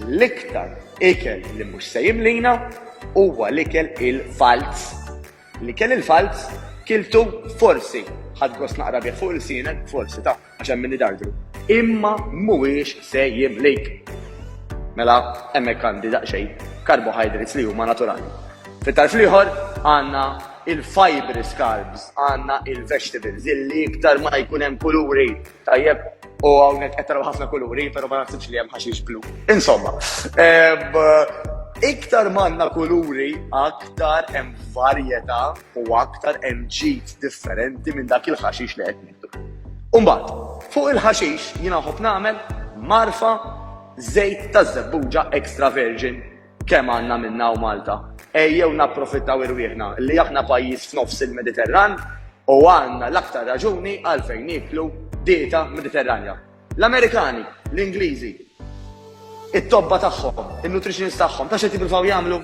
L-iktar ikel li mhux se jimlina huwa l-ikel il-falz. L-ikel il-falz kiltu forsi ħadd gost naqra bih fuq il-sienek, forsi ta' għax hemm min idardru. Imma mhuwiex se jimlik. Mela hemmhekk għandi daqsxejn carbohydrates li huma naturali. Fit-tarf l-ieħor għandna il-fibrous carbs, għandna il-vegetables, illi iktar ma jkun hemm kuluri Tajjeb, u għawnek għettaraw ħafna kuluri, pero ma nasibx li għem ħaxix blu. Insomma, Iktar manna kuluri, aktar hemm varjetà u aktar hemm ġid differenti minn dak il-ħaxix li qed nieħdu. Umbagħad, fuq il-ħaxix jiena ħobb nagħmel marfa żejt ta' żebbuġa extra virgin Kemm għandna minnha hawn Malta? Ejjew napprofittaw irwieħna li aħna pajjiż f'nofs il-Mediterran u għandna l-aktar raġuni għalfejn nieklu dieta Mediterranja. L-Amerikani, l-Ingliżi, it-tobba tagħhom, in-nutritionist tagħhom, ta' xed jippruvaw jagħmlu?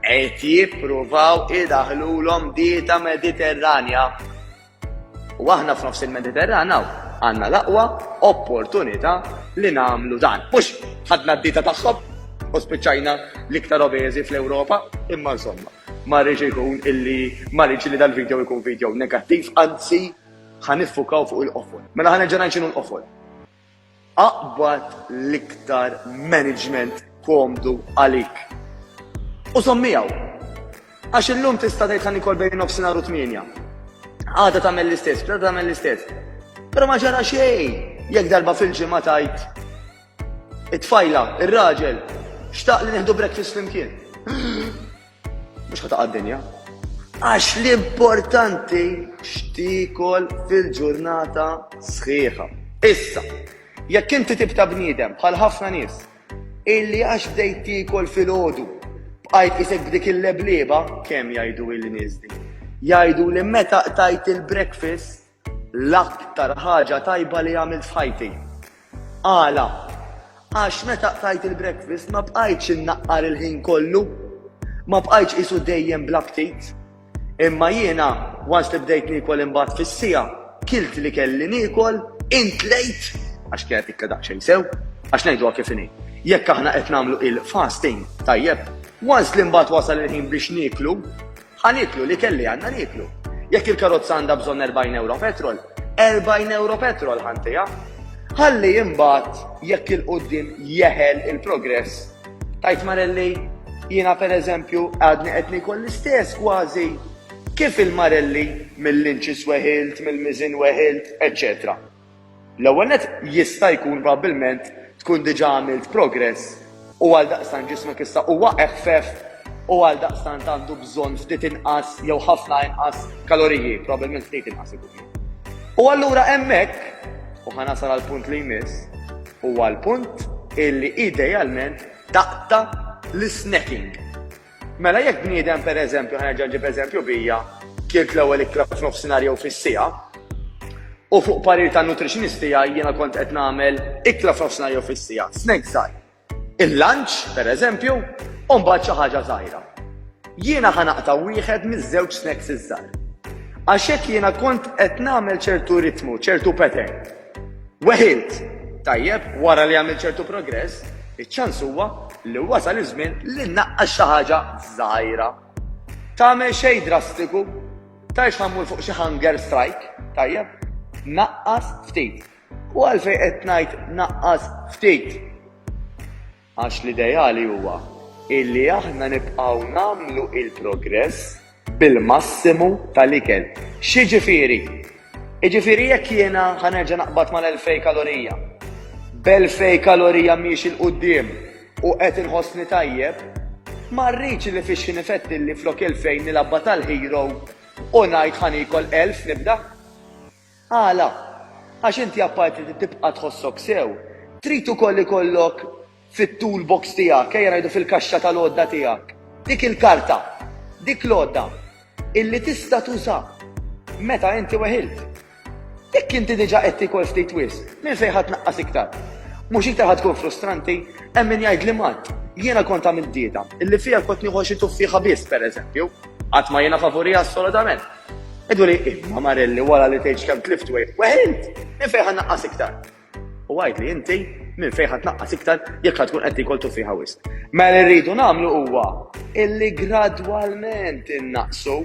Qed jippruvaw idaħħlulhom dieta Mediterranja. U aħna f'nofs il-Mediterran hawn għandna l-aqwa opportunità li nagħmlu dan. Mhux ħadna d-dita tagħhom u spiċċajna l-iktar obeżi fl-Ewropa, imma insomma, ma rridx ikun illi ma rridx li dal-video jkun video negattiv, anzi ħaniffukaw fuq il-qofol. Mela ħanerġa' ngħid x'inhu l-qofol. Aqbad l-iktar maniġment komdu għalik u żomm miegħu. Għax illum tista' tgħid ħa nikol bejn nofsinhar u tmienja. Għada tagħmel l-istess, b'da tagħmel l-istess. Però ma ġara xejn jekk darba fil-ġimgħa tajt it-tfajla, ir-raġel, xtaq li nieħdu breakfast flimkien. Mhux ħataq dinja Għax l-importanti x'tikol fil-ġurnata sħiħa. Issa, jekk inti tibta bniedem bħal ħafna nies illi għax bdejt tikol fil-ħodu bqajt isek b'dik il-leblieba kemm jgħidu il-nies din. Jgħidu li meta qtajt il-breakfast L-aktar ħaġa tajba li għamilt f'ħajti. Għala? Għax meta qtajt il-breakfast ma bqajtx innaqqar il-ħin kollu. Ma bqajtx qisu dejjem bla ftit. Imma jiena, once li bdejt niekol imbagħad fis-siegħa, kilt li kelli niekol, intlejt, għax kienet ikla daqsxejn sew, għax ngħiduha kif inhi. Jekk aħna qed nagħmlu il-fasting, tajjeb, once li mbagħad wasal il-ħin biex nieklu, Ħa nieklu l-ikel li għandna nieklu. Jekk il-karozza għandha bżonn 40 euro petrol, 40 euro petrol ħantija. Ħalli imbagħad jekk il-qudiem jeħel il-progress. Tajt Marelli, jiena pereżempju għadni qed nikol l-istess kważi kif il-Marelli mill-inċis weħilt, mill-miżin weħilt, eċċetera. L-ewwel nett, jista' jkun probabbilment tkun diġà għamilt progress u għaldaqstant ġismek issa huwa eħfef u għaldaqstant għandu bżonn ftit inqas jew ħafna inqas kaloriji, probabbilment ftit inqas ikun. U allura hemmhekk, u ħa nasal għall-punt li jmiss, huwa l-punt illi idealment taqta' l-isnacking. Mela jekk bniedem pereżempju, ħa nerġa' nġib eżempju bija, kielt l-ewwel ikla f'nofsinhar jew fis-siegħa, u fuq parir tan-nutritionist tiegħi jiena kont qed nagħmel ikla f'nofsinhar jew fis-siegħa, snack żgħir, il-lunch, pereżempju, u mbagħad xi ħaġa żgħira. Jiena ħa naqta' wieħed miż-żewġ snacks iż-żgħar. Għax hekk jiena kont qed nagħmel ċertu ritmu, ċertu pattern. Weħilt! Tajjeb, wara li għamilt ċertu progress, iċ-ċans huwa li wasal iż-żmien li nnaqqas xi ħaġa żgħira. Tagħmel xejn drastiku, tgħix ħa mmur fuq xi hunger strike, tajjeb? Naqqas ftit. U għalfejn qed ngħid naqqas ftit? Għax l-ideali huwa illi aħna nibqgħu nagħmlu il-progress bil-massimu tal-ikel. X'jiġifieri? Jiġifieri jekk jiena ħa nerġa' naqbad mal-elfej kalorija, b'elfej kalorija miexi 'l quddiem u qed inħossni tajjeb, ma rridx li fix-xi nifettilli flok elfejn nilgħabha tal-hero u ngħid ħa niekol elf nibda. Għala? Għax inti apparti li tibqa' tħossok sew, trid ukoll ikollok fit-tool box tiegħek, ejja ngħidu fil-kaxxa tal-għodda tiegħek, dik il-karta, dik l-għodda illi tista' tuża meta inti weħilt. Jekk inti diġà qed tiekol ftit wisq, minn fejn ħa tnaqqas iktar? Mhux iktar ħa tkun frustranti? Hemm min jgħidli Matt, jiena kont għamilt dieta illi fiha kont nieħu xi tuffieħa biss, pereżempju. Qatt ma jiena favuriha assolutament. Idu li imma Marelli wara li tgħidx kemm tlift wejħ weħ int, minn fejn ħa naqqas iktar? U għidli inti minn fejn ħa tnaqqas iktar jekk tkun qed tiekol tuffiħa wisq. Mela li rridu nagħmlu huwa illi gradwalment innaqqsu.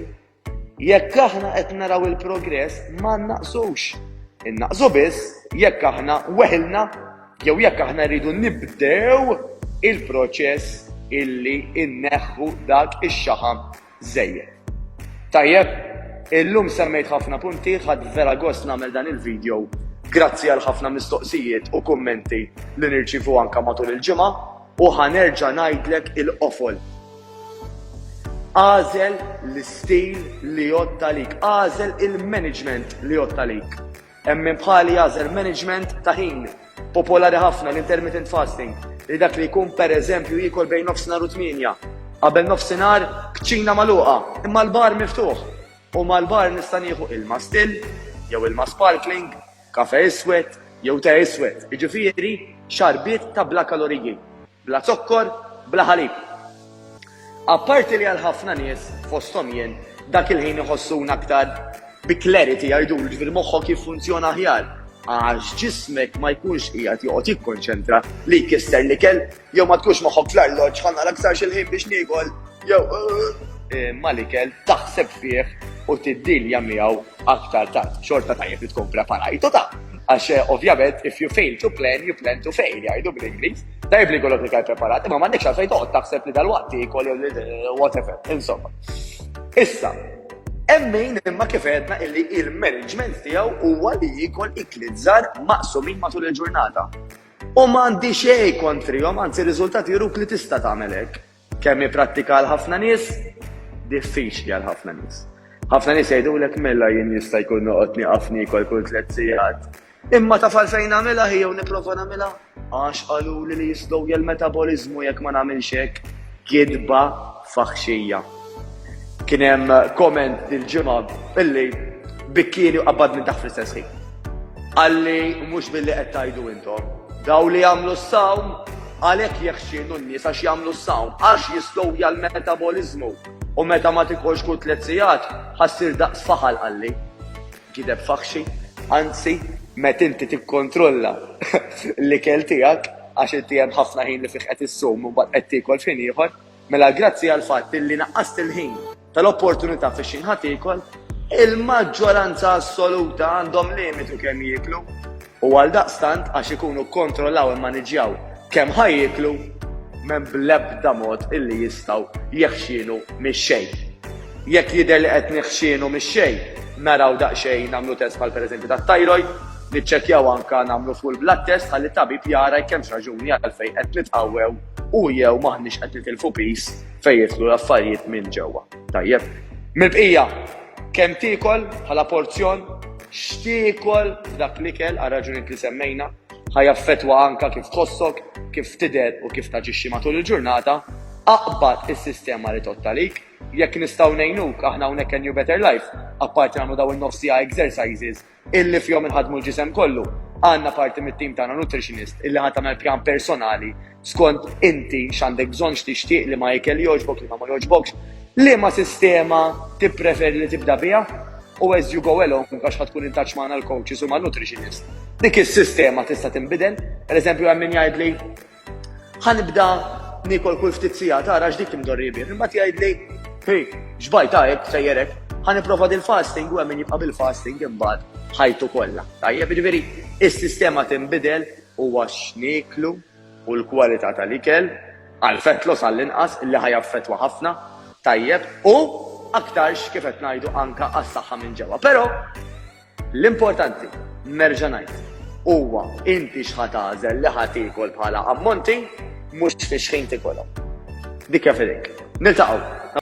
Jekk aħna qed naraw il-progress ma nnaqsux. Innaqsu biss jekk aħna weħilna jew jekk aħna rridu nibdew il-proċess illi inneħħu dak ix-xaħam żejjed. Tajjeb, illum semmejt ħafna punti, ħadt vera gost nagħmel dan il-video grazzi għal ħafna mistoqsijiet u kummenti li nirċievu anke matul il-ġimgħa u ħa nerġa' ngħidlek il-qofol. Agħżel l-istil li jgħodd għalik, agħżel il-management li jgħodd għalik. Hemm min bħali jagħżel management ta' ħin popolari ħafna, l-intermittent fasting, li dak li jkun pereżempju jiekol bejn nofsinhar u tmienja. Qabel nofsinhar, kċina magħluqa, imma l-bar miftuħ. U mal-bar nista' nieħu ilma still, jew ilma sparkling, kafè iswed, jew te iswed, jiġifieri xarbiet ta' bla kaloriji. Bla zokkor, bla ħalib. Apparti li għal ħafna nies, fosthom jien, dak il-ħin iħossuna aktar bi clarity jgħidulu, jiġifieri moħħok jiffunzjona aħjar għax ġismek ma jkunx qiegħed joqgħod jikkonċentra li jkisser l-ikel jew ma tkunx moħħok fl-arloġġ ħa nara aktarx il-ħin biex niekol. Jew eh, malikel taħseb fih u tiddilja miegħu aktar tard. Xorta tajjeb li tkun preparajtu ta' għax eh, ovvjament if you fail to plan, you plan to fail, jgħidu bl-Ingliż. Tajjeb li kollok iktar preparat, imma m'għandekx għalfejn toqgħod taħseb li dal-waqt ikol jew eh, whatever, insomma. Issa, Emmejn imma kif għedna illi il-management tiegħu huwa li jikol iklit żgħar maqsumin matul il-ġurnata. U m'għandi xejn kontrihom, anzi riżultati juruk li tista' tagħmel hekk. Kemm hi prattika għal ħafna nies? Diffiċli għal ħafna nies. Ħafna nies jgħidulek mela jien jista' jkun noqgħod nieqaf niekol kull tliet sigħat. Imma taf għalfejn nagħmilha hi jew nipprova nagħmilha? Għax qaluli li jistgħu jel metaboliżmu jekk ma nagħmilx hekk kidba faħxija. Kien hemm komment dil-ġimgħa illi bikkieni u qabadni taħt fl-istess ħin. Qalli mhux billi qed tgħidu intom. Dawn li jagħmlu s-sawm, għalhekk jeħxienu n-nies għax jagħmlu s-sawm, għax jistowja l-metaboliżmu, u meta ma tikolx kull tliet sigħat, ħa ssir daqs faħal qalli. Gideb faħxi, anzi, meta inti tikkontrolla l-ikel tiegħek, għax inti hemm ħafna ħin li fih qed issum u mbagħad qed tiekol f'ħin ieħor, mela grazzi għall-fatt illi naqqast il-ħin, tal-opportunità fi xi ħadd iekol, il-maġġoranza assoluta għandhom limitu kemm jieklu u għaldaqstant għax ikunu kkontrollaw immaniġġjaw kemm ħa jieklu, m'hemm bl-ebda mod illi jistgħu jeħxienu mix-xejn. Jekk jidher li qed neħxienu mix-xejn, naraw daqsxejn nagħmlu test bħal pereżempju tat-tajrojt, niċċekkjaw anke nagħmlu full blood test ħalli t-tabib jara jekk hemmx raġuni għalfejn qed nitqawwew u jew m'aħniex qed nitilfu piż Fejn jidħlu l-affarijiet minn ġewwa. Tajjeb. Mill-bqija, kemm tiekol bħala porzjon, x'tiekol f'dak l-ikel għal raġunijiet li semmejna, ħa jaffettwa anke kif tħossok, kif tidher u kif taġixxi matul il-ġurnata. Aqbad is-sistema li tgħodd għalik. Jekk nistgħu ngħinuk, aħna hawnhekk għal New Better Life, apparti nagħmlu dawn in-nofs siegħa exercises, illi fihom inħaddmu l-ġisem kollu. Għandna parti mit-tim tagħna nutritionist illi ħa tagħmel pjan personali skont inti x'għandek bżonn x'tixtieq liema ikel jogħġbok liema ma jogħġbokx, liema sistema tippreferi li tibda biha u as you go along għax ħa tkun intaċ magħna l-coaches u man-nutritionist. Dik is-sistema tista' tinbidel, pereżempju hemm min jgħidli Ħanibda nikol kull ftit sija tara x'dik timdorri bih. Imma tgħidli, hi, x'bajt hekk sejjerek, ħaniprofa din fasting u hemm min jibqa' bil-fasting imbagħad ħajtu kollha. Tajjeb, jiġifieri is-sistema tinbidel huwa x'nieklu u l-kwalità tal-ikel għal fat loss għall-inqas li ħajaffettwa ħafna, tajjeb, u aktarx kif qed ngħidu anke għas-saħħa minn ġewwa. Però L-importanti, nerġa' ngħid, huwa inti x'ħa tagħżel li ħa tiekol bħala ammonti, mhux fiex ħin tiekolhom. Dik hija f'idejk. Niltaqgħu!